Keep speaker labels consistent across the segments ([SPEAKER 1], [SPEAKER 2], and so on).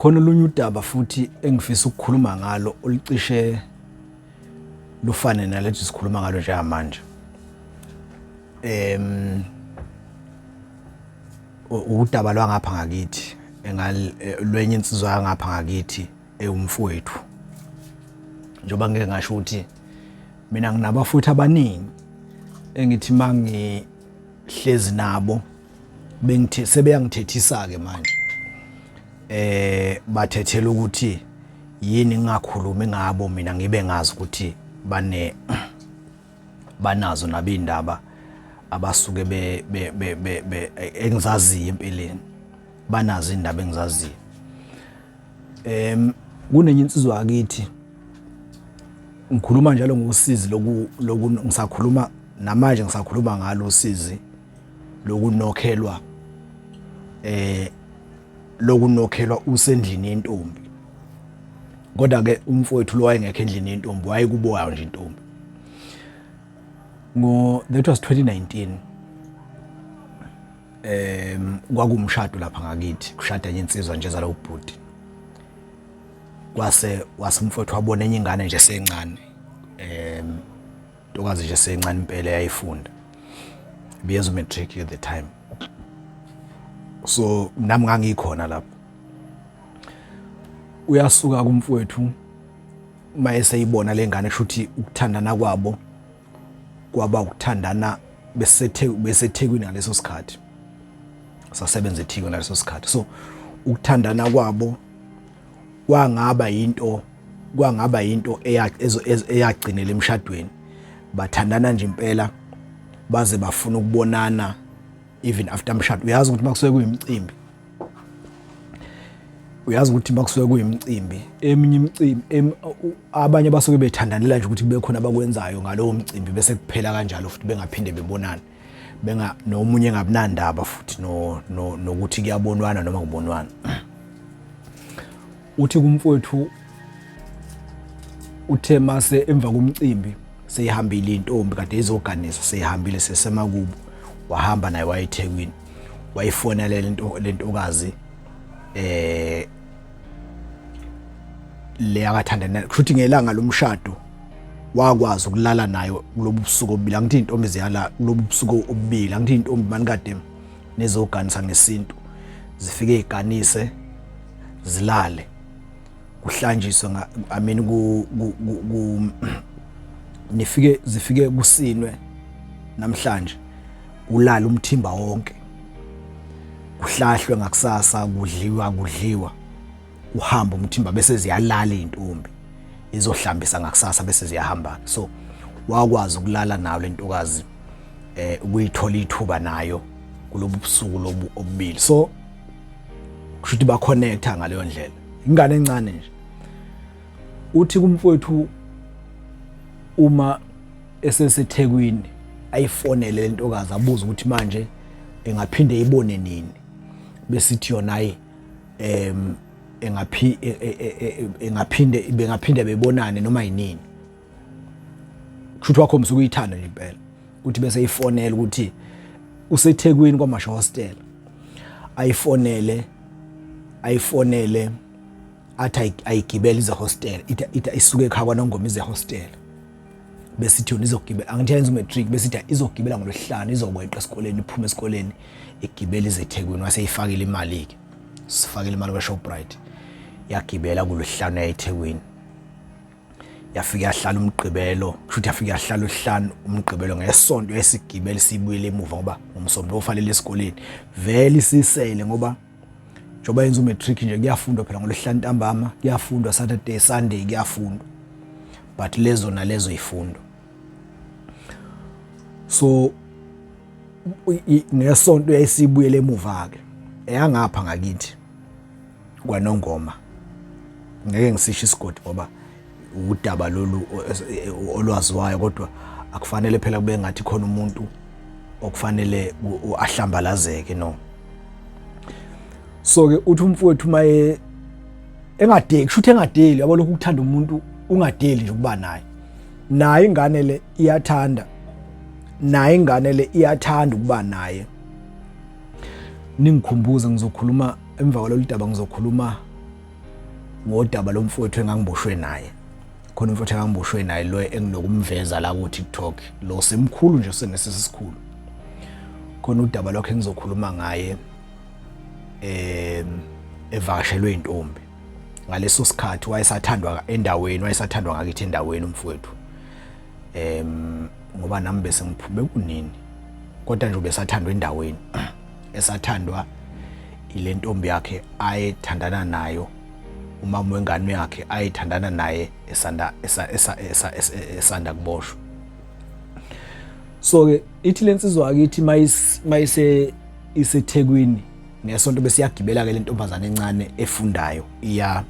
[SPEAKER 1] Khona olunye udaba futhi engifisa ukukhuluma ngalo olucishe lufane nalethi sikhuluma ngalo njengamanje. Em udaba lwangapha ngakithi engalwenye insizwa yangapha ngakithi ewumfowethu. Njoba ngeke ngasho ukuthi mina nginabafowethu abaningi engithi mangihlezi nabo bengithe sebeyangithethisa ke manje eh bathethela ukuthi yini ngingakhulumi ngabo mina ngibe ngazi ukuthi bane banazo nabindaba abasuke be be be, be, be engizaziyo empilweni banazo indaba engizaziyo em kunenye insizwa akithi ngikhuluma njalo ngosizi loku ngisakhuluma namanje ngisakhuluma ngalo sizi lokunokhelwa eh lokunokhelwa usendlini yentombi kodwa ke umfowethu lo wayengekho endlini yentombi wayekuboyayo nje intombi ngo that was 2019 em kwakumshado lapha ngakithi kushada enye insizwa nje zalo ubhuti kwase wasimfowethu wabona enye ingane nje sencane em ntokazi nje sencane impela yayifunda ibiyenza umatric at the time so nami ngangikhona lapho uyasuka kumfowethu uma eseyibona le ngane shuthi ukuthandana kwabo kwaba ukuthandana besethekwini ngaleso sikhathi sasebenza ethekwini ngaleso sikhathi so ukuthandana kwabo kwangaba yinto kwangaba yinto eyagcinela emshadweni bathandana nje impela baze bafuna ukubonana even after mshado uyazi ukuthi makusuke kuyimcimbi uyazi ukuthi makusuke kuyimcimbi eminye imicimbi abanye basuke bethandanela nje ukuthi kube khona abakwenzayo ngalowo mcimbi bese kuphela kanjalo futhi bengaphinde bebonane benga nomunye engabinandaba futhi nokuthi no, no kuyabonwana noma kubonwana uthi kumfowethu uthe mase emva komcimbi seyihambile intombi kade izoganisa seyihambile sesemakubo wahamba naye wayethekwini wayifonela lento lentokazi eh le akathandana kushuthi ngelanga lomshado wakwazi ukulala nayo kulobu busuku obubili angithi intombi ziyala kulobu busuku obubili angithi intombi mani kade nezoganisa ngesintu zifike iganise zilale kuhlanjiswe i mean ku nifike zifike kusinwe namhlanje ulala umthimba wonke kuhlahlwe ngakusasa kudliwa kudliwa uhamba umthimba bese ziyalala intombi izohlambisa ngakusasa bese ziyahamba so wakwazi ukulala nayo lentokazi eh ukuyithola ithuba nayo kulobu busuku lobu obubili so kusho ukuthi ba connecta ngaleyo ndlela ingane encane nje uthi kumfowethu uma esesethekwini ayifonele le ntokazi abuze ukuthi manje engaphinde ibone nini besithi yona ayi um engaphi e, e, e, engaphinde bengaphinde bebonane noma yinini kushuthi wakho msuku uyithanda nje impela uthi bese ifonela ukuthi usethekwini kwamasha hostel ayifonele ayifonele athi ayigibele ize hostel ithi isuke ekhaya kwanongoma ize hostel besithi yona izogibela angithi yenza umatric besithi izogibela ngolwesihlanu izokweqa esikoleni iphuma esikoleni igibela izethekwini waseyifakile imali-ke sifakile imali kwashoprite yagibela kulwesihlanu yayethekwini yafike yahlala umgqibelo kusho ukuthi yafike yahlala uhlanu umgqibelo ngesonto esigibele sibuyele emuva ngoba ngomsombuluko ufanele esikoleni vele isisele ngoba njengoba yenza umatric nje kuyafundwa phela ngolwesihlanu ntambama kuyafundwa saturday sunday kuyafundwa but lezo nalezo ifundo so ngesonto yayisibuyele emuva ke eyangapha ngakithi kwanongoma ngeke ngisisho isigodi ngoba udaba lolu olwaziwayo kodwa akufanele phela kube ngathi khona umuntu okufanele ahlambalazeke no so ke uthi umfowethu maye engadeli kusho ukuthi engadeli yabo lokhu ukuthanda umuntu ungadeli nje ukuba naye naye ingane le iyathanda naye ingane le iyathanda ukuba naye ningikhumbuze ngizokhuluma emva kwalolu daba ngizokhuluma ngodaba lomfowethu engangiboshwe naye khona umfowethu engangiboshwe naye lo enginokumveza la ku TikTok lo semkhulu nje senesisi sikhulu khona udaba lwakhe engizokhuluma ngaye eh evakashelwe intombi ngaleso sikhathi wayesathandwa endaweni wayesathandwa ngakithi endaweni umfowethu em ngoba nami bese ngiphume kunini kodwa nje ubesathandwa endaweni esathandwa ile ntombi yakhe ayethandana nayo umama wengane yakhe ayethandana naye esanda esanda kuboshwa so ke ithi lensizwa akithi mayise isethekwini ngesonto besiyagibela ke lentombazana encane efundayo iya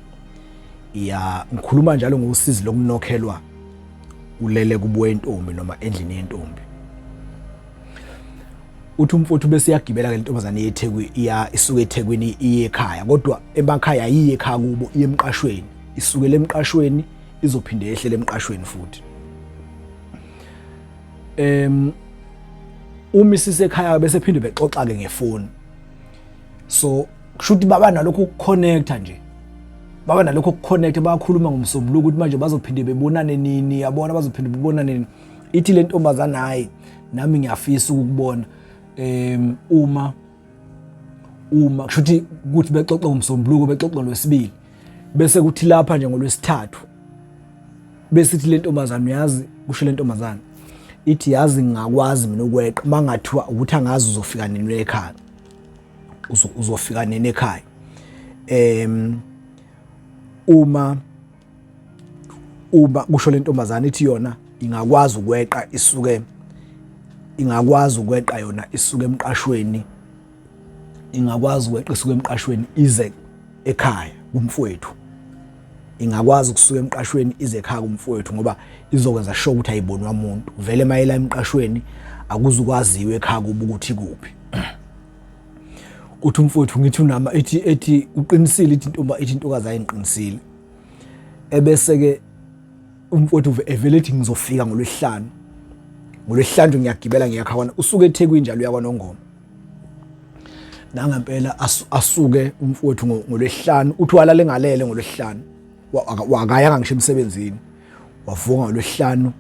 [SPEAKER 1] iya ngikhuluma njalo ngosizi lokunokhelwa ulele kubuye intombi noma endlini yentombi uthi umfowethu bese iyagibela ke lentombazane yeThekwini iya isuka eThekwini iye ekhaya kodwa emakhaya iye ekhaya kubo iye emqashweni isukele emqashweni izophinde yehlele emqashweni futhi em uma isisekhaya bese phinde bexoxa ke ngefoni so kushuthi baba nalokho ukuconnecta nje baba nalokho ukuconnecta bayakhuluma ngomsombuluko ukuthi manje bazophinde bebonane nini yabona bazophinde bebonane nini ithi le ntombazana hayi nami ngiyafisa ukubona um uma uma kusho ukuthi ukuthi bexoxe ngomsombuluko bexoxe ngolwesibili bese kuthi lapha nje ngolwesithathu bese ithi le ntombazana uyazi kusho le ntombazana ithi yazi ngingakwazi mina ukweqa mangathiwa ukuthi angazi uzofika nini ekhaya uzofika nini ekhaya em uma uma kusho lentombazana ithi yona ingakwazi ukweqa isuke ingakwazi ukweqa yona isuke emqashweni ingakwazi ukweqa isuke emqashweni ize ekhaya kumfowethu ingakwazi ukusuka emqashweni ize ekhaya kumfowethu ngoba izokwenza sho ukuthi ayibonwa umuntu vele mayela emqashweni akuzukwaziwe ekhaya kuba ukuthi kuphi uthi umfowethu ngithi unama ethi ethi uqinisile ithi intomba ithi intokazi ayinqinisile ebese ke umfowethu evele ethi ngizofika ngolwehlanu ngolwehlanu ngiyagibela ngiyakhawana usuke ethekwini njalo uyakwanongoma nangempela asuke umfowethu ngolwehlanu uthi walala engalele ngolwehlanu wakayanga ngisho emsebenzini wavuka ngolwehlanu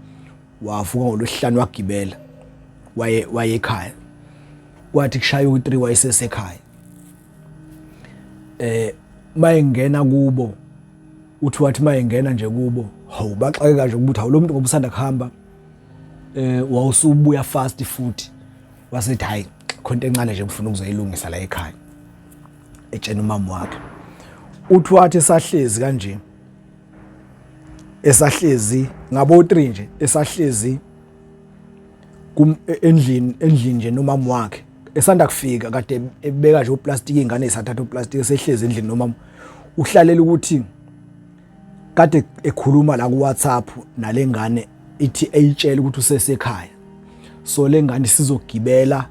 [SPEAKER 1] wavuka ngolwesihlanu wagibela waye waye ekhaya kwathi kushaya u3 wayesesekhaya eh mayengena kubo uthi wathi mayengena nje kubo hawu baxakeka nje ukuthi hawu lo muntu ngobusanda kuhamba eh wawusubuya fast futhi wasethi hayi khonto encane nje ngifuna ukuzoyilungisa la ekhaya etshena umama wakhe uthi wathi sahlezi kanje esahlezi ngabo 3 nje esahlezi kum e, endlini endlini nje nomama wakhe esanda kufika kade ebeka nje uplastic ingane isathatha uplastic esehlezi endlini nomama uhlalela ukuthi kade ekhuluma la ku WhatsApp nalengane ithi eyitshela ukuthi usesekhaya so lengane sizogibela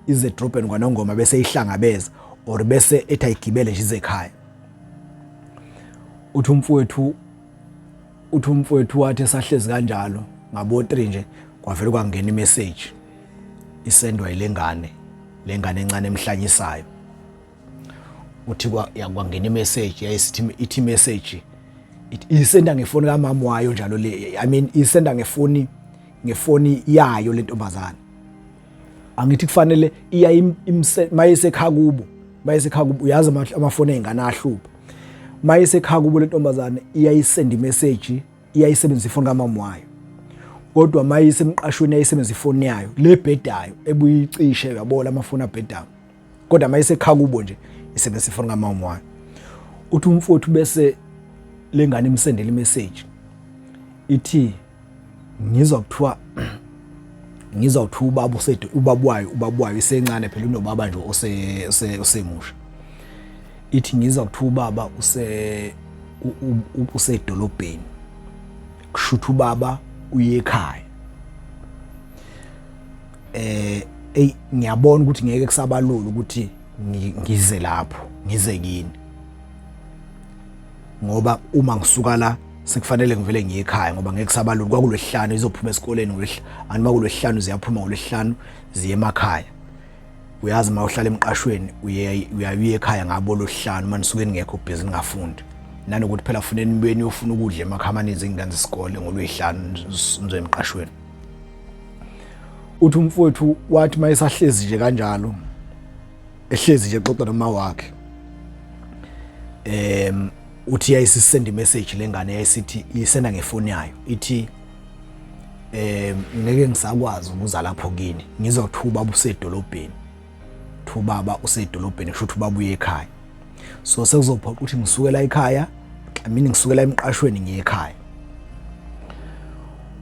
[SPEAKER 1] ize drop and kwanongoma bese ihlangabeza or bese ethi ayigibele nje izekhaya uthi umfowethu uthi umfowethu wathi esahlezi kanjalo ngabo 3 nje kwavele kwangena imessage isendwa ilengane lengane encane emhlanyisayo uthi kwangena imessage yayisithi ithi message isenda ngefoni kamama wayo njalo le i mean isenda ngefoni ngefoni yayo lentombazana angithi kufanele iya mayesekhaya kubo mayesekhaya kubo uyazi amafoni ezingane ahlupha mayesekhaya kubo lentombazane iyayisenda imessage iyayisebenzisa ifoni kamama wayo kodwa mayisemqashweni yayisebenzisa ifoni yayo lebhedayo ebuyicishe yabona amafoni abhedayo kodwa uma esekha kubo nje isebe sifona kamama wami uthi umfowethu bese lengane imsendela imessage ithi ngizwa kuthiwa ngizwa kuthiwa ubaba usedu ubaba wayo ubaba wayo isencane phela unobaba nje ose osemusha ithi ngizwa kuthiwa ubaba use usedolobheni kushutha ubaba uye ekhaya eh ey ngiyabona ukuthi ngeke kusabalula ukuthi ngize lapho ngize kini ngoba uma ngisuka la sekufanele ngivele ngiye ekhaya ngoba ngeke sabalula kwakulwehlanu izophuma esikoleni ngolwehla anti makulwehlanu ziyaphuma ngolwehlanu ziye emakhaya uyazi uma uhlala emqashweni uyaye ekhaya ngabo lohlanu uma nisuke ningekho busy ningafundi nanokuthi phela funeni beni yofuna ukudla emakhaya amaninzi ingane zesikole ngolwehlanu nizwe emqashweni uthi umfowethu wathi uma esahlezi nje kanjalo ehlezi nje xoxa noma wakhe em uthi yayisisend message lengane yayisithi isenda ngefoni yayo ithi eh ngeke ngisakwazi ukuza lapho kini ngizothuba busedolobheni Kuthiwa ubaba usedolobheni kusho ukuthi ubaba uye ekhaya. So sekuzophoqa ukuthi ngisukela ekhaya, I mean ngisukela emqashweni ngiye ekhaya.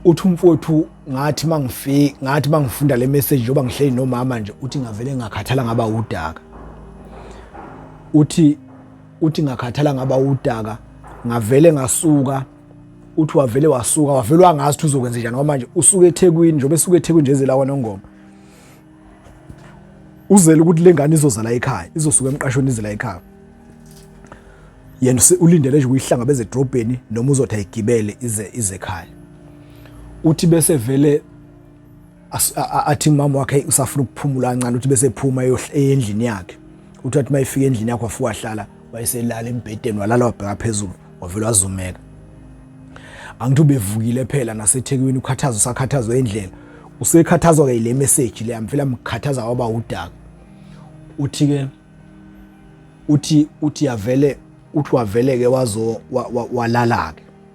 [SPEAKER 1] Uthi umfowethu ngathi mangifika ngathi mangifunda le message njoba ngihleli nomama nje uthi ngavele ngakhathala ngaba udaka. Uthi uthi ngakhathala ngaba udaka ngavele ngasuka uthi wavele wasuka wavele wangazi ukuthi uzokwenza njani ngoba manje usuke eThekwini njengoba esuke eThekwini nje ezela kwaNongoma uzele ukuthi lengane izozala ekhaya izosuka emqashweni izela ekhaya yena ulindele nje uyihlangabeze edrobheni noma uzothi ayigibele ize ize ekhaya uthi bese vele athi umama wakhe usafuna ukuphumula kancane uthi bese ephuma eyendlini yakhe uthi wathi mayifika endlini yakho afuka hlala wayeselala embhedeni walala wabheka phezulu wavele wazumeka angithi ubevukile phela nasethekwini ukhathazwa sakhathazwa endlela usekhathazwa-ke yile meseji le amfela mkhathaza waba udaka uthi-ke uthi uthi yavele uthi wavele-ke wazo walala-ke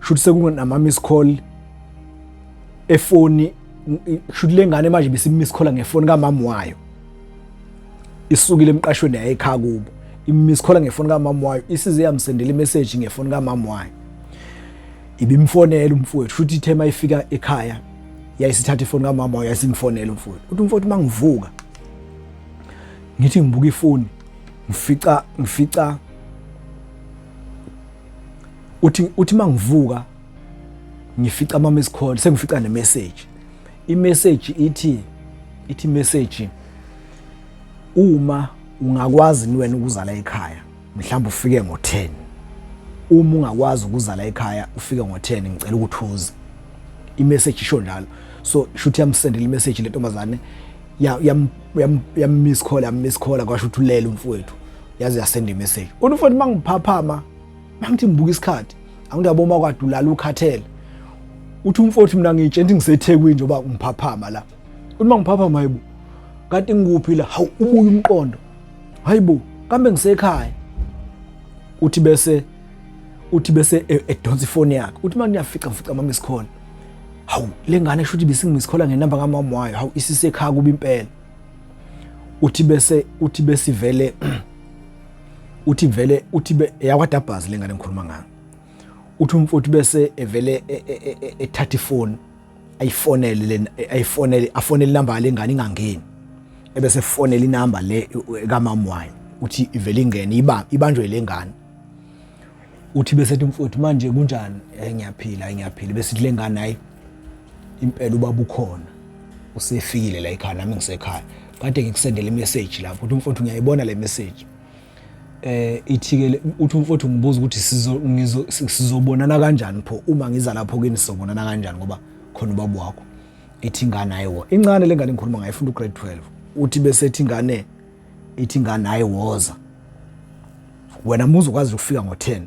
[SPEAKER 1] shuthi sekunama miss call efoni shuthi lengane manje bese miss call ngefoni kamama wayo isukile emqashweni yaye ekhaya kubo imiss call ngefoni kamama wayo isize yamsendela imessage ngefoni kamama wayo ibimfonela umfowethu shuthi ithe mayifika ekhaya yayisithatha ifoni kamama wayo yasingifonela umfowethu uthi umfowethu mangivuka ngithi ngibuka ifoni ngifica ngifica uthi uthi mangivuka ngifica ama miss call sengifica ne message i message ithi ithi message uma ungakwazi ni wena ukuzala ekhaya mhlawumbe ufike ngo10 uma ungakwazi ukuzala ekhaya ufike ngo10 ngicela ukuthi uze i message isho njalo so shuthi yamsendela i message lentombazane yam yam yam miss call yam miss call kwasho ukuthi ulele umfowethu yaze yasenda imessage kodwa futhi mangiphaphama mangithi ngibuka isikhathi angithi aboma kwadulala ukhathele uthi umfowethu mina ngiyitshenti ngisethekwini njengoba ngiphaphama la uthi mangiphaphama hayibo kanti ngikuphi la hawu ubuye umqondo hayibo kambe ngisekhaya uthi bese uthi bese e, edonsa ifoni yakhe uthi manje uyafica ngifica mama isikhona hawu lengane shuthi bisingisikhola ngenamba kamama wayo hawu isisekhaya kuba impela uthi bese uthi besivele uthi vele uthi yakwadabhazi lengane ngikhuluma ngayo uthi umfowethu bese evele e, e, e, ethatha ifoni ayifonele lena ayifonele afonele inamba lengane ingangeni ebese efonela inamba le kamama wayo uthi ivele ingene ibanjwe lengane uthi bese ethi mfowethu manje kunjani eh ngiyaphila ngiyaphila bese le ngane hayi impela ubaba ukhona usefikile la ekhaya nami ngisekhaya kade ngikusendele imessage lapho uthi mfowethu ngiyayibona le message eh ithikele uthi mfowethu ngibuza ukuthi sizo ngizo sizobonana kanjani pho uma ngiza lapho kini sizobonana kanjani ngoba khona ubaba wakho ethi ingane ayiwo incane lengane ngikhuluma ngayo ifunda ugrade 12 uthi bese ethi ingane ithi ingane hayi woza wena muzi ukwazi ukufika ngo-10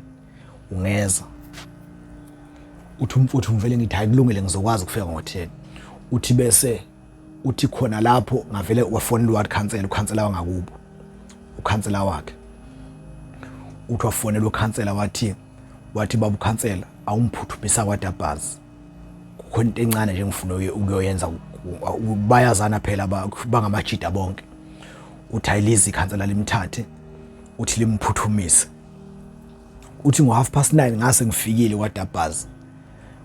[SPEAKER 1] ungeza uthi umfuthu ngivele ngithi hayi kulungile ngizokwazi ukufika ngo-10 uthi bese uthi khona lapho ngavele wafonela uward council ukhansela wangakubo ukhansela wakhe uthi wafonela ukhansela wathi wathi baba ukhansela awumphuthumisa kwadabhazi khona into encane nje ngifuna ukuyoyenza bayazana phela bangamajida bonke uthi ayilizi ikhansela limthathe uthi limphuthumise uthi ngo-half past nine ngase ngifikile kwadabhazi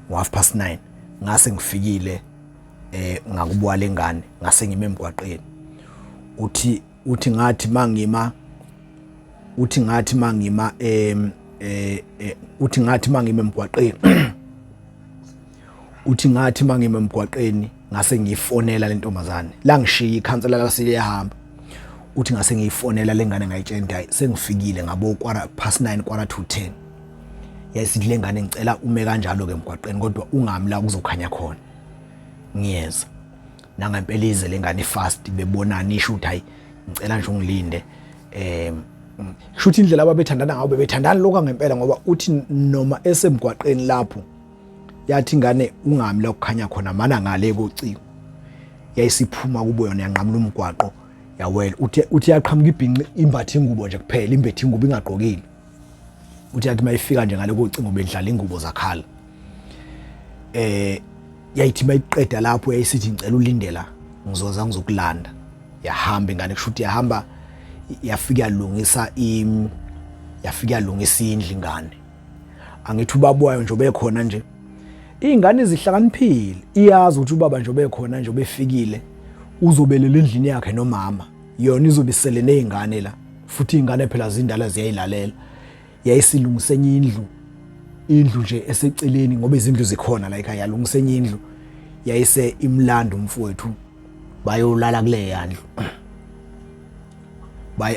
[SPEAKER 1] ngo-half past nine ngase ngifikile um ngakubuwa le ngane ngase ngime emgwaqeni uthi uthi ngathi mangima uthi ngathi mangima em eh, eh uthi ngathi mangima emgwaqeni uthi ngathi mangima emgwaqeni ngase ngiyifonela le ntombazane la ngishiya ikhansela lasile yahamba uthi ngase ngiyifonela le ngane ngayitshela hayi sengifikile ngabo kwara past 9 kwara to 10 yayisithi le ngane ngicela ume kanjalo ke emgwaqeni kodwa ungami la kuzokhanya khona ngiyeza nangempela ize lengane fast bebonani isho ukuthi hayi ngicela nje ungilinde eh shuthi indlela ababethandana ngayo bebethandana lokho ngempela ngoba uthi noma esemgwaqeni lapho yathi ingane ungami la kukhanya khona mana ngale kociko yayisiphuma kubo yona yanqamula umgwaqo yawela uthe uthe yaqhamuka ibhinqi imbathe ingubo nje kuphela imbethe ingubo ingagqokile uthi yathi mayifika nje ngale kocingo bedlala ingubo zakhala eh yayithi mayiqeda lapho yayisithi ngicela ulindela ngizoza ngizokulanda yahamba ingane kusho ukuthi yahamba yafika yalungisa im yafika yalungisa indlu ingane angithi ubaba wayo nje obekhona nje iy'ngane zihlakaniphile iyazi ukuthi ubaba nje obekhona nje obefikile uzobelela endlini yakhe nomama yona izobe isele nezingane la futhi izingane phela zindala ziyayilalela yayisilungisa enye indlu indlu nje eseceleni ngoba izindlu zikhona la ekhaya yalungisa enye indlu yayise imlanda umfowethu bayolala kule yandlu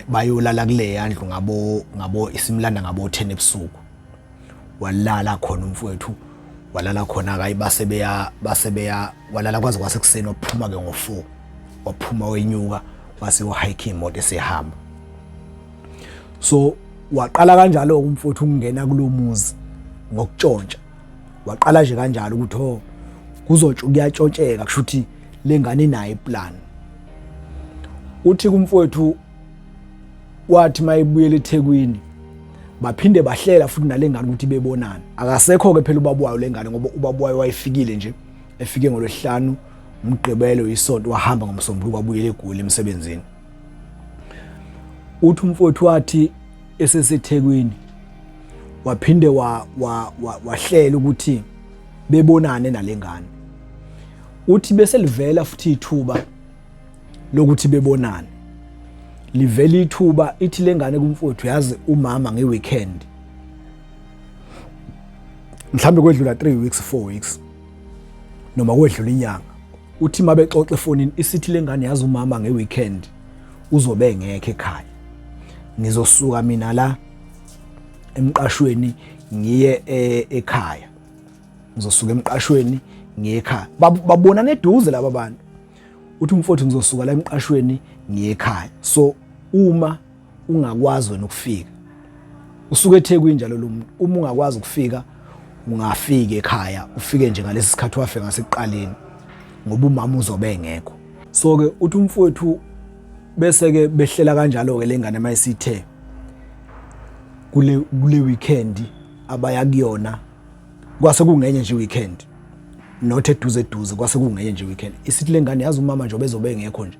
[SPEAKER 1] bayolala kule yandlu ngabo ngabo isimlanda ngabo 10 ebusuku walala khona umfowethu walala khona kayi base beya base beya walala kwaze kwasekuseni waphuma ke ngo4 waphuma wenyuka wase uhike imoto esihamba so waqala kanjalo umfowethu ukungena kulomuzi ngokutshontsha waqala nje kanjalo ukuthi ho oh, kuzotsho kuyatshontsheka kushuthi lengane naye plan uthi kumfowethu kwathi mayebuyela eThekwini baphinde bahlela futhi nalengane ukuthi bebonana akasekho ke phela ubaba wayo lengane ngoba ubaba wayo wayefikile nje efike ngolwesihlanu umgqibelo isonto wahamba ngomsombuluko wabuyela egoli emsebenzini uthi umfowethu wathi esesethekwini waphinde wahlela wa, wa, wa ukuthi bebonane nalengane uthi beselivela futhi ithuba lokuthi bebonane livele ithuba ithi lengane kumfowethu yazi umama ngeweekend mhlambe kwedlula 3 weeks 4 weeks noma kwedlula inyanga uthi mabe xoxe efonini isithi lengane yazi umama ngeweekend uzobe ngekhe ekhaya ngizosuka mina la emqashweni ngiye e, ekhaya ngizosuka emqashweni ngiye ekhaya babona neduze laba bantu uthi umfowethu ngizosuka la emqashweni ngiye ekhaya so uma ungakwazi wena ukufika usuke eThekwini njalo lo muntu uma ungakwazi ukufika ungafika ekhaya ufike nje ngalesi sikhathi wafe ngasekuqaleni ngoba umama uzobe engekho so ke uthi umfowethu bese ke behlela kanjalo ke lengane mayisithe kule kule weekend abaya kuyona kwase kungenye nje weekend not eduze eduze kwase kungenye nje weekend isithi lengane yazi umama nje obezobe engekho nje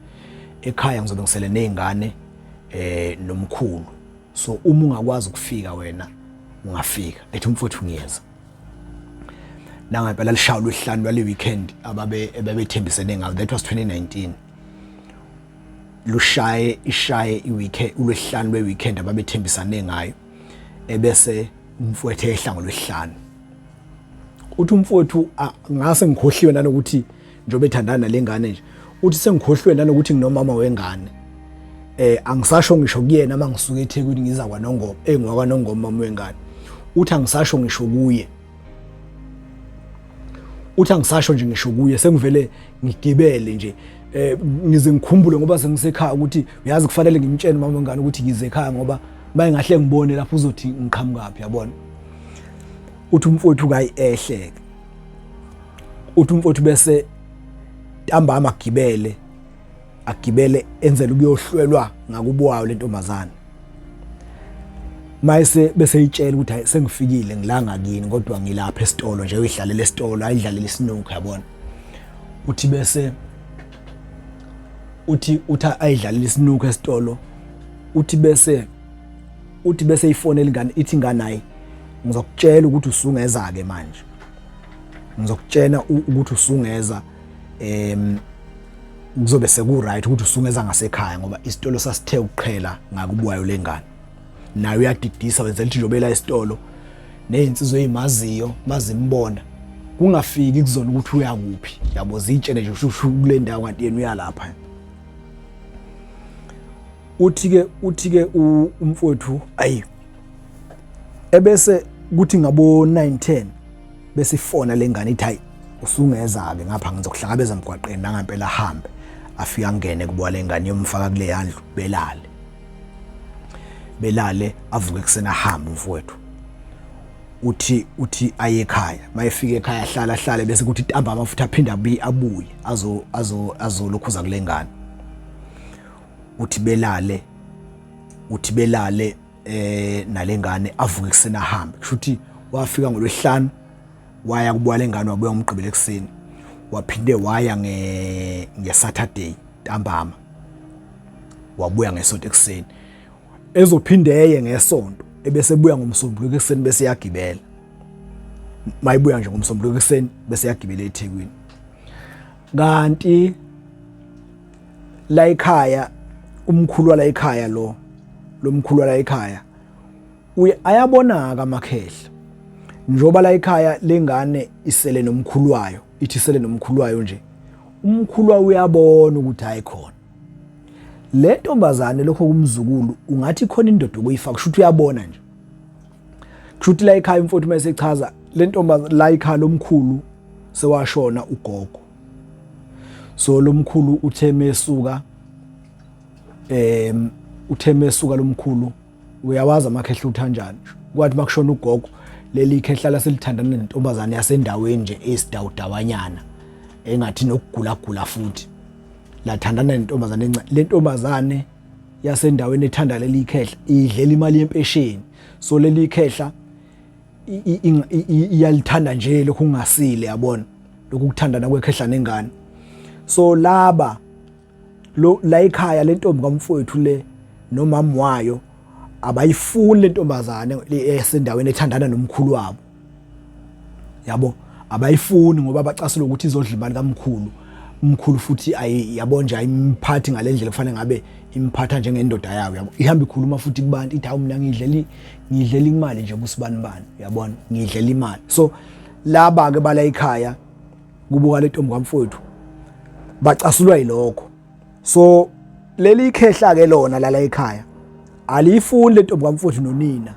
[SPEAKER 1] ekhaya ngizobe ngisele nezingane eh nomkhulu so uma ungakwazi ukufika wena ungafika ethi umfowethu ngiyeza nangempela lishawula uhlanu lwale weekend ababe ebebethembisene ngayo that was 2019 lushaye ishaye iweekend ulwesihlanu lweweekend ababethembisane ngayo ebese umfowethu ehla ngolwesihlanu uthi umfowethu ngase ngikhohliwe nanokuthi njengoba ethandana nalengane nje uthi sengikhohliwe nanokuthi nginomama wengane eh angisasho ngisho kuyena mangisuka eThekwini ngiza kwaNongoma engwakwaNongoma mama wengane uthi angisasho ngisho kuye uthi angisasho nje ngisho kuye sengivele ngigibele nje eh ngize ngikhumbule ngoba sengisekhaya ukuthi uyazi kufanele ngimtshele mama ngane ukuthi ngize ekhaya ngoba maye ngahle ngibone lapho uzothi ngiqhamukaphi yabona uthi umfowethu kayi ehleke uthi umfowethu bese ntambama gibele agibele enzela ukuyohlwelwa ngakubuwayo lentombazana mayise bese itshela ukuthi hayi sengifikile ngilanga kini kodwa ngilapha esitolo nje uyidlalela esitolo ayidlalela isinukhu yabona uthi bese uthi utha ayidlalela isinukhu esitolo uthi bese uthi bese ifone elingane ithi nganayi ngizokutshela ukuthi usungeza ke manje ngizokutshena ukuthi usungeza em kuzobe sekuright ukuthi usungeza ngasekhaya ngoba isitolo sasithe ukuqhela ngakubuwayo lengane naye uyadidisa wenza lithi njobela esitolo nezinsizwe ezimaziyo mazimbona kungafiki kuzona ukuthi uya kuphi yabo zitshele nje ushushu kule ndawo kanti yena uyalapha uthi ke uthi ke umfowethu ayi ebese kuthi ngabo 910 besifona lengane ithi hayi usungeza-ke ngapha ngizokuhlangabeza emgwaqeni nangampela ahambe afike angene kubowa le ngane yomfaka kule yandlu belale belale avuke kusena ahambe umfowethu uthi uthi aye ekhaya mayefika ekhaya ahlala ahlale bese kuthi tamba amafutha aphinde abuye abuye azo azo azolokhuza kulengane uthi belale uthi belale eh nalengane avuke kusena hambe kusho ukuthi wafika ngolwehlanu waya kubuya lengane wabuya umgqibelo ekseni waphinde waya nge nge Saturday ntambama wabuya ngesonto ekseni ezophinde eye ngesonto ebese buya ngomsombuluko ekseni bese yagibela mayibuya nje ngomsombuluko ekseni bese yagibela eThekwini kanti la ekhaya umkhulu wala ekhaya lo lo mkhulu wala ekhaya uye ayabonaka amakhehla njoba la ekhaya lengane isele nomkhulu wayo ithi isele nomkhulu wayo nje umkhulu wayo uyabona ukuthi hayi khona le ntombazane lokho kumzukulu ungathi khona indoda okuyifaka kusho ukuthi uyabona nje kusho ukuthi la ekhaya umfowethu uma esechaza le ntombazane la ekhaya lomkhulu sewashona ugogo so lomkhulu uthe mesuka em uthe mesuka lomkhulu uyawazi amakhehla uthanjani kwathi makushona ugogo leli khehla laselithandana nentombazane yasendaweni nje esidawudawanyana engathi nokugula gula futhi lathandana nentombazane encane lentombazane yasendaweni ethanda leli khehla idlela imali yempesheni so leli khehla iyalithanda nje lokhu kungasile yabona lokhu kuthandana kwekhehla nengane so laba lo la ikhaya lentombi kamfowethu le nomama wayo abayifuni lentombazane esendaweni ethandana nomkhulu wabo yabo abayifuni ngoba bacasile ukuthi izodla imali kamkhulu umkhulu futhi yabo nje ayimphathi ngalendlela kufanele ngabe imphatha njengendoda yayo yabo ihamba ikhuluma futhi kubantu ithi hawu mina ngidleli ngidlela imali nje kusibanibani uyabona ngidlela imali so laba ke bala ekhaya kubuka lentombi kamfowethu bacasulwa yilokho so leli ikhehla ke lona lala ekhaya aliyifuni lentombi kamfowethu nonina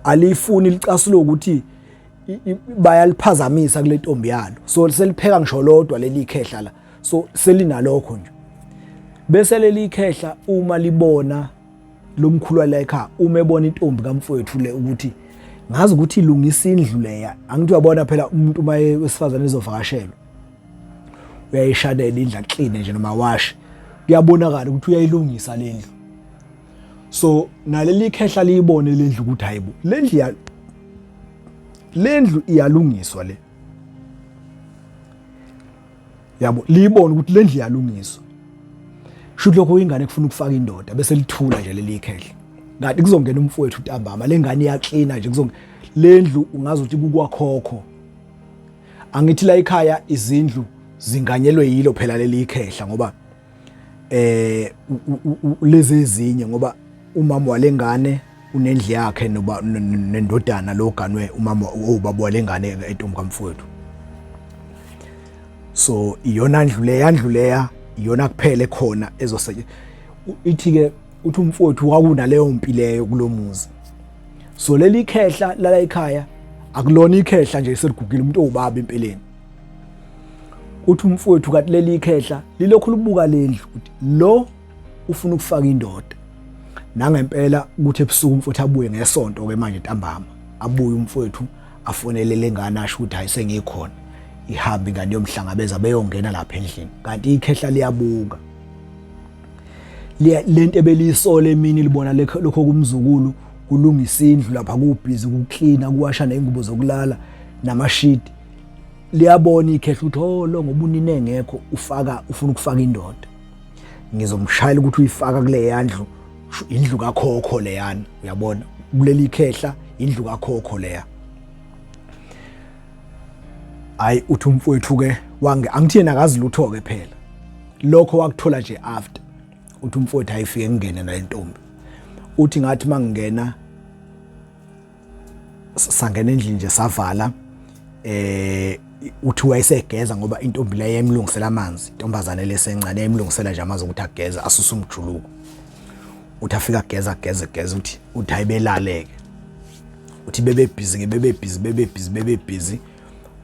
[SPEAKER 1] aliyifuni licasulo ukuthi bayaliphazamisa kule ntombi yalo so selipheka ngisho lodwa leli ikhehla la so selinalokho nje bese leli ikhehla uma libona lo mkhulu wala ekhaya uma ebona intombi kamfowethu le ukuthi ngazi ukuthi ilungisa indlu leya angithi uyabona phela umuntu uma wesifazane ezovakashelwa uyayishanela indlu clean nje noma wash kuyabonakala ukuthi uyayilungisa le ndlu so naleli khehla liyibone le ndlu ukuthi hayibo le ndlu ya le ndlu iyalungiswa le yabo liyibona ukuthi le ndlu iyalungiswa shuthi lokho ingane kufuna ukufaka indoda bese lithula nje leli khehla kanti kuzongena umfowethu ntambama le ngane iyaklina nje kuzonge le ndlu ungazi ukuthi kukwakhokho angithi la ekhaya izindlu zinganyelwe yilo phela leli ikhehla ngoba eh lezi ezinye ngoba umama walengane unendle yakhe noba nendodana lo ganwe umama ubaba walengane etombi kamfowethu so iyona ndlu leya ndlu leya iyona kuphele khona ezoseke ithi ke uthi umfowethu wakunaleyo mpi leyo kulomuzi so leli khehla lala ekhaya akulona ikhehla nje selugugile umuntu owubaba empeleni uthi umfowethu kanti leli ikhehla lilokhu libuka lendlu ukuthi lo ufuna ukufaka indoda nangempela ukuthi ebusuku umfowethu abuye ngesonto ke manje ntambama abuye umfowethu afonele lengane asho ukuthi hayi sengikhona ihambe ingane yomhlangabeza beyongena lapha endlini kanti ikhehla liyabuka lento ebeliyisola emini libona lokho kumzukulu kulungisa indlu lapha kubhizi kuklina kuwasha neyingubo zokulala namashidi liyabona ikhehla ukuthi oh lo ngoba unina engekho ufaka ufuna ukufaka indoda ngizomshayela ukuthi uyifaka kule yandlu indlu kakhokho leyana uyabona kuleli ikhehla indlu kakhokho leya hayi uthi umfowethu ke wange angithi yena akazi lutho ke phela lokho wakuthola nje after uthi umfowethu ayifike ngingene nalentombi uthi ngathi mangingena sangena endlini nje savala eh uthi wayesegeza ngoba intombi leyo yayimlungisela amanzi intombazane lesencane yayimlungisela nje amanzi ukuthi ageze asuse umjuluko uthi afika ageza ageze ageza uthi uthi ayibelaleke uthi bebe busy ke bebe busy bebe busy bebe busy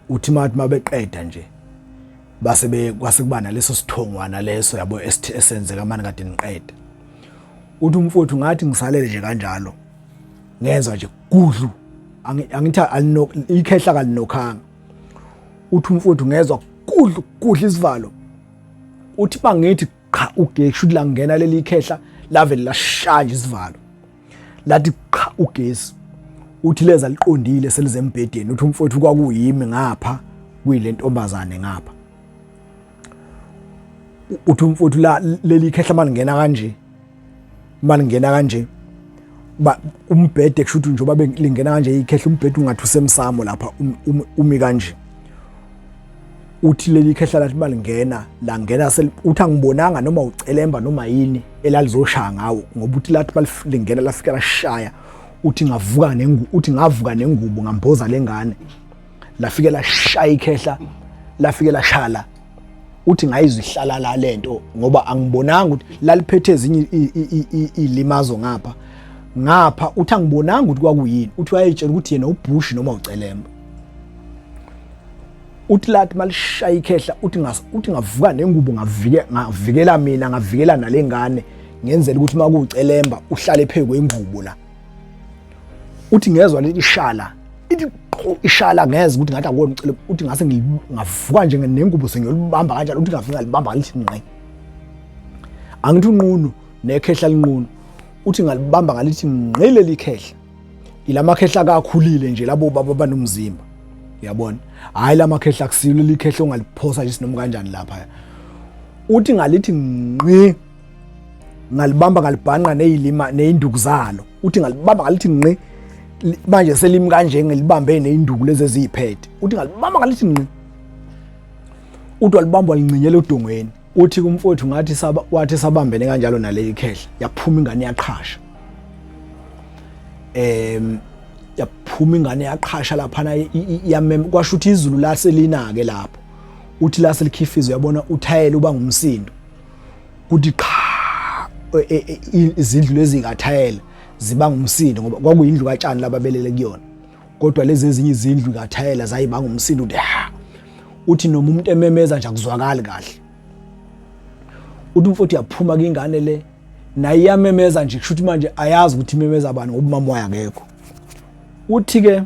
[SPEAKER 1] uthi mathi mabeqeda nje base be kwase kuba naleso sithongwana leso yabo esenzeka manje kade niqeda uthi umfowethu ngathi ngisalele nje kanjalo ngenza nje gudlu angithi ikhehla kalinokhanga uthi umfowethu ngezwa kudla kudla isivalo uthi bangithi qha ugesi uthi langena leli khehla lave lashaya isivalo lathi qha ugesi uthi leza liqondile selizembhedeni uthi umfowethu kwakuyimi ngapha kuyile ntombazane ngapha uthi umfowethu la leli khehla malingena kanje uma lingena kanje ba umbhede kusho ukuthi njengoba lingena kanje ikhehla umbhede ungathi usemsamo lapha um, um, umi kanje uthi leli khehla lathi balingena la ngena uthi angibonanga noma ucelemba noma yini elalizoshaya ngawo ngoba uthi lathi balingena lafika lashaya uthi ngavuka nengu uthi ngavuka nengubo ngamboza lengane lafike lashaya ikhehla lafike lashala uthi ngayizihlala la lento ngoba angibonanga ukuthi laliphethe ezinye ilimazo ngapha ngapha uthi angibonanga ukuthi kwakuyini uthi wayetshela ukuthi yena ubush noma ucelemba uthi lathi malishaya ikhehla uthi ngas uthi ngavuka nengubo ngavike ngavikela mina ngavikela nalengane ngenzela ukuthi makucelemba uhlale phezwe ingubo la uthi ngezwa leli shala ithi ishala ngeze ukuthi ngathi akona ucele uthi ngase ngavuka nje nengubo sengiyolibamba kanjalo uthi ngafika libamba ngalithi nqe angithi unqunu nekhehla linqunu uthi ngalibamba ngalithi nqe leli khehla ilamakhehla akakhulile nje labo baba banomzimba uyabona hayi lamakhehla kusilo likhehla ongaliphosa nje sinoma kanjani lapha uthi ngalithi nqi ngalibamba ngalibhanqa nezilima nezinduku zalo uthi ngalibamba ngalithi nqi manje selimi kanje ngelibambe neinduku lezi eziyiphethe uthi ngalibamba ngalithi nqi uthi walibamba walinqinyela odongweni uthi kumfowethu ngathi saba wathi sabambene kanjalo naleli khehla yaphuma ingane yaqhasha em yaphuma ingane yaqhasha lapha na yamem kwasho ukuthi izulu laselinake lapho uthi lase likhifizwe yabona uthayela uba ngumsindo kuthi qha e, e, e, izindlu lezi ngathayela zibanga umsindo ngoba kwakuyindlu katshani lababelele kuyona kodwa lezi ezinye izindlu ngathayela zayibanga umsindo uthi ha uthi noma umuntu ememeza nje akuzwakali kahle uthi umfowethu uyaphuma kingane le naye iyamemeza nje kusho ukuthi manje ayazi ukuthi imemeza bani ngoba umama wayo akekho uthi-ke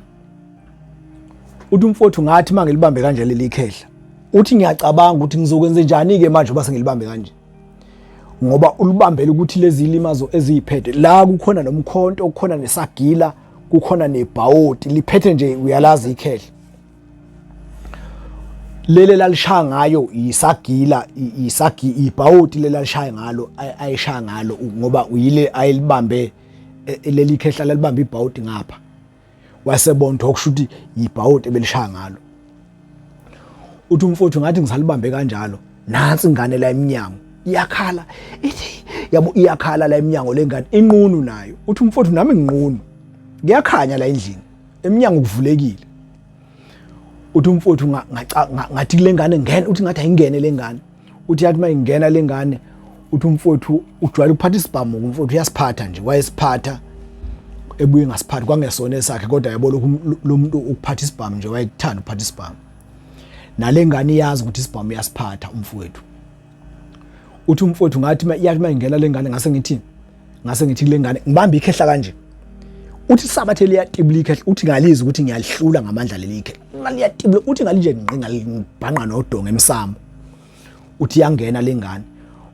[SPEAKER 1] uthi umfowethu ngathi uma ngilibambe kanje leli khehla uthi ngiyacabanga ukuthi ngizokwenze njani-ke manje uba sengilibambe kanje ngoba ulibambele ukuthi lezi limazo eziyiphethe la kukhona nomkhonto kukhona nesagila kukhona nebhawoti liphethe nje uyalazi ikhehla lele lalishaya ngayo isagila isagi ibhawoti lele lalishaya ngalo ayishaya ngalo ngoba uyile ayilibambe e, e, leli khehla lalibambe ibhawoti ngapha wasebondwa okusho ukuthi yibhawoti ebelishaya ngalo uthi umfowethu ngathi ngisalibambe kanjalo nansi ingane la emnyango iyakhala ithi yabo iyakhala la emnyango lengane inqunu nayo uthi umfowethu nami nginqunu kuyakhanya la endlini emnyango kuvulekile uthi umfowethu ngathi kule ngane ngene uthi ngathi ayingene le ngane uthi yathi uma ingena le ngane uthi umfowethu ujwayele ukuphatha isibhamu umfowethu uyasiphatha nje wayesiphatha ebuye ngasiphathi kwangesona esakhe kodwa yabo lokhu lo muntu ukuphatha isibhamu nje wayethanda ukuphatha isibhamu nale ngane iyazi ukuthi isibhamu uyasiphatha umfowethu uthi umfowethu ngathi yathi uma ingena le ngane ngase ngithi ngase ngithi kule ngane ngibambe ikhehla kanje uthi sabathe liyatibula ikhehla uthi ngalizi ukuthi ngiyalihlula ngamandla leli ikhehla ngaliyatibula uthi ngalinje ngqi ngalibhanqa nodonga emsamo uthi yangena lengane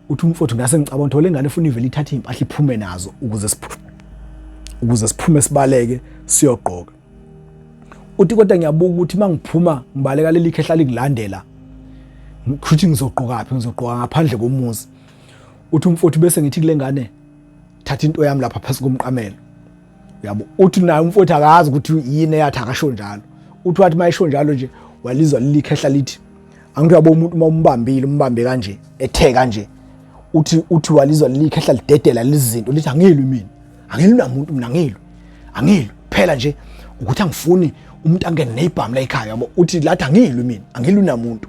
[SPEAKER 1] uthi umfowethu ngase ngicabanga ukuthi lengane ufuna ivele ithathe impahla iphume nazo ukuze siphume ukuze siphume sibaleke siyogqoka uthi kodwa ngiyabuka ukuthi mangiphuma ngibaleka leli khehla lingilandela ngikhuthe ngizogqoka phi ngizogqoka ngaphandle komuzi uthi umfowethu bese ngithi kule ngane thatha into yami lapha phansi komqamelo yabo uthi naye umfowethu akazi ukuthi yini eyathi akasho njalo uthi wathi mayisho njalo nje walizwa lilikhehla lithi angithi yabo umuntu uma umbambile umbambe kanje ethe kanje uthi uthi walizwa lilikhehla lidedela lizinto lithi angilwi mina angilwi namuntu mina angilwi angilwi phela nje ukuthi angifuni umuntu angene nebhamu la ekhaya yabo uthi lathi angilwi mina angilwi namuntu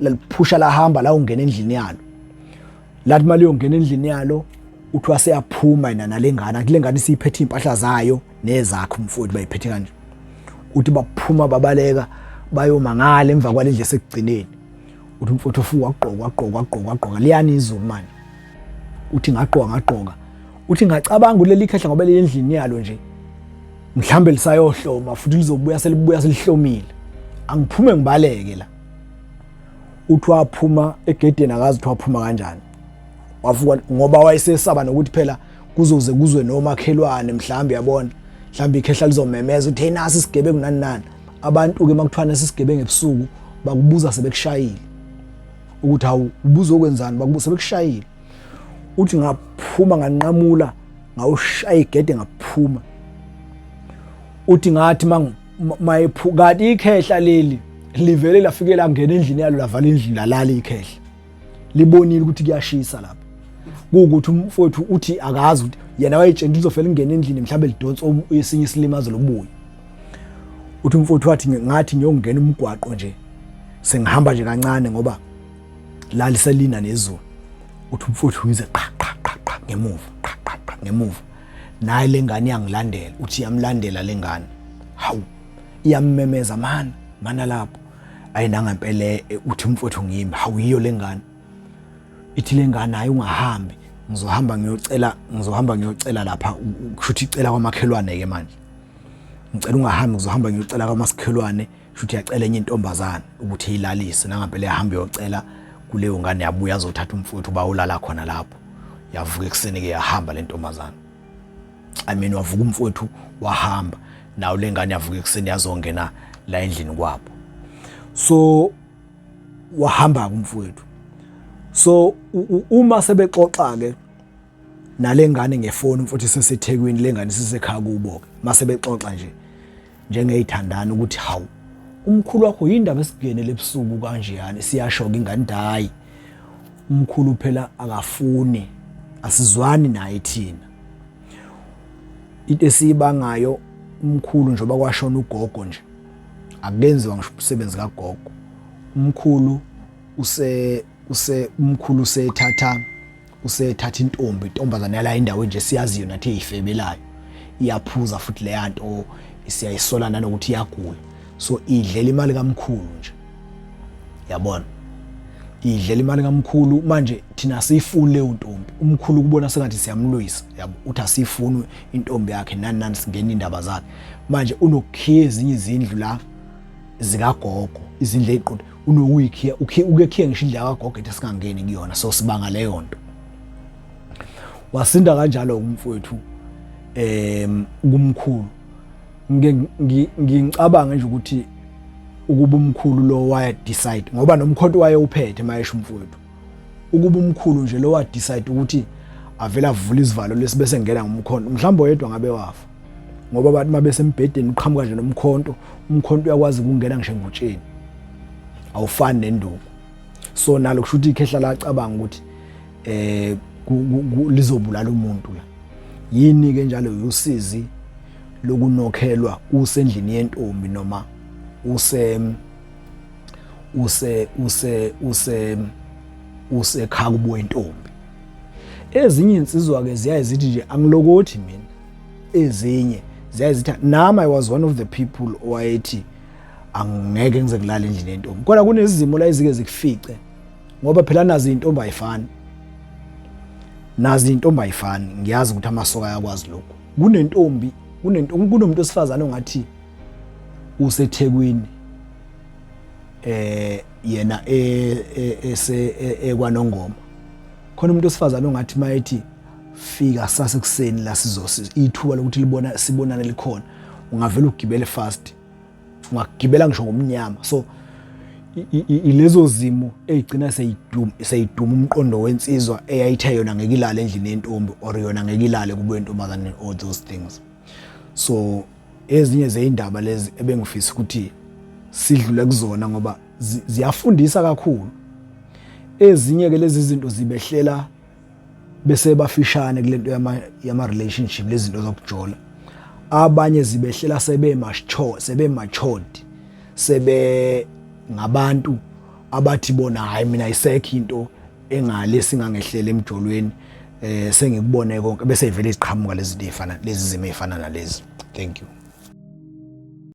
[SPEAKER 1] laliphusha lahamba la ungena endlini yalo lathi mali yongena endlini yalo uthiwa seyaphuma yena nalengane kule ngane siyiphethe impahla zayo nezakhe umfowethu bayiphethe kanje uthi baphuma babaleka bayomangala emva kwalendle sekugcineni uthi umfowethu ofuka wagqoka wagqoka wagqoka wagqoka liyani izulu manje uthi ngagqoka ngagqoka uthi ngacabanga uleli khehla ngoba lendlini yalo nje mhlambe lisayohloma futhi lizobuya selibuya selihlomile angiphume ngibaleke la uthi waphuma egedeni akazi ukuthi waphuma kanjani wavuka ngoba wayesesaba nokuthi phela kuzoze kuzwe nomakhelwane mhlawumbe yabona mhlawumbe ikhehla lizomemeza ukuthi hey nasi isigebengu nani nani abantu-ke uma kuthiwa nesisigebengu ebusuku bakubuza sebekushayile ukuthi hawu ubuza okwenzani bakubuza sebekushayile uthi ngaphuma nganqamula ngawushaya igede ngaphuma uthi ngathi mayephukati ikhehla leli livele lafike langena endlini yalo lavala indlu lalala ikhehla libonile ukuthi kuyashisa lapha kuwukuthi umfowethu uthi akazi ukuthi yena wayetshela uzofela ingena endlini mhlawumbe lidonsa esinye isilimazo lobuya uthi umfowethu wathi ngathi ngiyongena umgwaqo nje sengihamba nje kancane ngoba la liselina nezulu uthi umfowethu ngize qha qha qha ngemuva qha qha ngemuva naye lengane yangilandela uthi yamlandela lengane hawu iyammemeza mana mana lapho ayi nangempela eh, uthi umfowethu ngimi hawu yiyo lengane ithi lengane hayi ungahambi ngizohamba ngiyocela ngizohamba ngiyocela lapha kushuthi icela kwamakhelwane ke manje ngicela ungahambi ngizohamba ngiyocela kwamakhelwane Futhi yacela enye intombazana ukuthi ilalise nangampela yahamba yocela kuleyo ngane yabuya azothatha umfowethu uba ulala khona lapho. Yavuka ekuseni ke yahamba le ntombazana. I mean wavuka umfowethu wahamba nawo lengane yavuka ekuseni yazongena la endlini kwabo. So wahamba kumfowethu. So uma sebexoxa ke nalengane ngefoni mfowethu seseThekwini lengane sisekhaya kubo ke mase bexoxa nje njengeyithandana ukuthi hawu umkhulu wakho yindaba esingenele ebusuku kanje yani siyashoka ingane dayi umkhulu phela akafuni asizwani naye thina into esiyibangayo umkhulu njengoba kwashona ugogo nje akukenziwa ngisho umsebenzi kagogo umkhulu use use umkhulu usethatha usethatha intombi intombazane yala indawo nje siyaziyo nathi eyifebelayo iyaphuza futhi leya nto siyayisola nanokuthi iyagula so idlela imali kamkhulu nje yabona idlela imali kamkhulu manje thina siyifuni leyo ntombi umkhulu kubona sengathi siyamlwisa yabo uthi asiyifuni intombi yakhe nani nani singena indaba zakhe manje unokhiye ezinye izindlu la zikagogo izindlu eziqonde unokuyikhiya ukekhiye ngisho indlu yakagogo ethi singangeni kuyona so sibanga leyo nto wasinda kanjalo umfowethu em kumkhulu ngicabanga nje ukuthi ukuba umkhulu lo waya decide ngoba nomkhonto waye uphethe mayesho umfowethu ukuba umkhulu nje lo wa decide ukuthi avela avula isivalo lesibese ngena ngomkhondo mhlawumbe oyedwa ngabe wafa ngoba abantu uma besembhedeni uqhamuka nje nomkhonto umkhonto uyakwazi ukungena ngisho engutsheni awufani nenduku so nalo kusho ukuthi ikhehla lacabanga ukuthi eh lizobulala umuntu la yini ke njalo usizi lokunokhelwa usendlini yentombi noma use use use use usekhaya kubo intombi ezinye insizwa ke ziyaye zithi nje angilokothi mina ezinye ziyazitha nami i was one of the people owayethi angeke ngize kulala endlini yentombi kodwa kunezimo la ezike zikufice ngoba phela nazi intombi ayifani nazi intombi ayifani ngiyazi ukuthi amasoka ayakwazi lokho kunentombi kunentombi kunomuntu osifazana ongathi usethekwini eh yena e, e, ese e, ekwanongoma khona umuntu osifazana ongathi mayethi fika sase kuseni la sizosi ithuba lokuthi libona sibonane likhona ungavela ugibele fast ungagibela ngisho ngomnyama so ilezo zimo ezigcina seyiduma seyiduma umqondo wensizwa eyayithe yona ngeke ilale endlini yentombi or yona ngeke ilale kubo yentombazane all those things so ezinye zeindaba lezi ebengifisa ukuthi sidlule kuzona ngoba ziyafundisa kakhulu ezinye ke lezi zinto zibehlela bese bafishane kulento yama yama relationship lezinto zokujola abanye zibehlela sebe macho sebe matured sebe ngabantu abathi bona hayi mina isekho into engale singangehlele emjolweni eh sengikubone konke bese ivele iziqhamuka lezi zifana lezi zime ifana nalezi thank you